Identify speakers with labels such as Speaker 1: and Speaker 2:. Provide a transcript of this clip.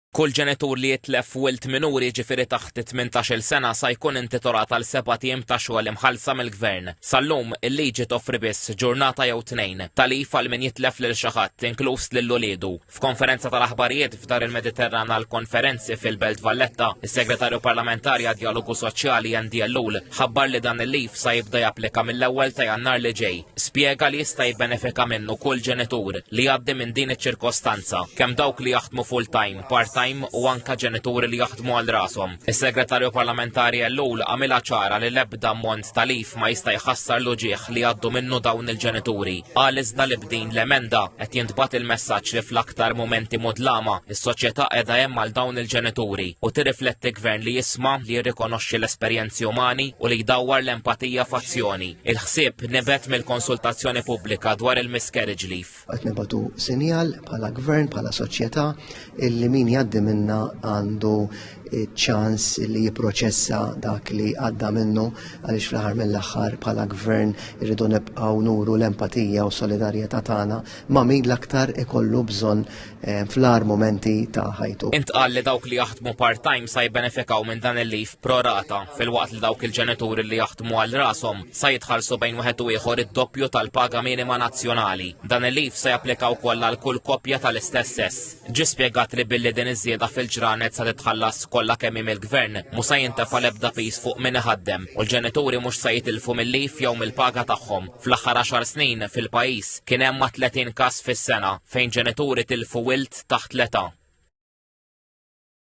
Speaker 1: Kull ġenitur li jitlef wild minuri jiġifieri taħt it-tmintax-il sena sa jkun intitolat għal sebat ijiem ta' xogħol imħallsa mill-Gvern. Sal-lum, il-liġi toffri biss ġurnata jew tnejn ta' leave għal min jitlef lil xi ħadd, inkluż lil uliedu. F'konferenza tal-aħbarijiet f'Dar il-Mediterran għall-konferenzi fil-Belt Valletta, is-Segretarju Parlamentari għad-Djalogu Soċjali Andy Ellul ħabbar li dan il-leave sa jibda japplika mill-ewwel ta' Jannar li ġej. Spjega li jista' jibbenefika minnu kull ġenitur li jgħaddi minn din iċ-ċirkostanza, kemm dawk li jaħdmu full-time, part-time u anke ġenituri li jaħdmu għal rashom. Is-Segretarju Parlamentari Ellul għamilha ċara li l-ebda ammont ta' leave ma jista' jħassar l-uġigħ li jgħaddu minnu dawn il-ġenituri. Qal iżda li b'din l-emenda qed jintbagħat il-messaġġ li fl-aktar mumenti mudlama is-soċjetà qiegħda hemm għal dawn il-ġenituri u tirrifletti gvern li jisma' li jirrikonoxxi l-esperjenzi umani u li jdawwar l-empatija f'azzjoni. Il-ħsieb nibet mill-konsultazzjoni pubblika dwar il-miscarriage leaf. Qed nibatu
Speaker 2: sinjal bħala gvern, bħala soċjetà illi min jgħaddi minna għandu ċans li jipproċessa dak li għadda minnu għaliex fl-aħħar mill-aħħar bħala gvern irridu nibqgħu nuru l-empatija u solidarjetà tagħna ma' min l-aktar ikollu bżonn Eh, fl-ar momenti ta' ħajtu. Intqal li dawk li jaħdmu
Speaker 1: part-time sa jibbenefikaw minn dan il-lif prorata fil-waqt li dawk il-ġenituri li jaħdmu għal rasom sa jitħallsu bejn wieħed u ieħor id-doppju tal-paga minima nazzjonali. Dan il-lif se japplika wkoll għal kull koppja tal-istess sess. Ġi spjegat li billi din iż-żieda fil-ġranet sa titħallas kollha kemm il-gvern mhux se jintefa' l-ebda pis fuq min iħaddem u l-ġenituri mhux se jitilfu mill-lif jew mill-paga tagħhom. Fl-aħħar għaxar snin fil-pajjiż kien hemm ma' 30 każ fis-sena fejn ġenituri tilfu wild taħt l-età.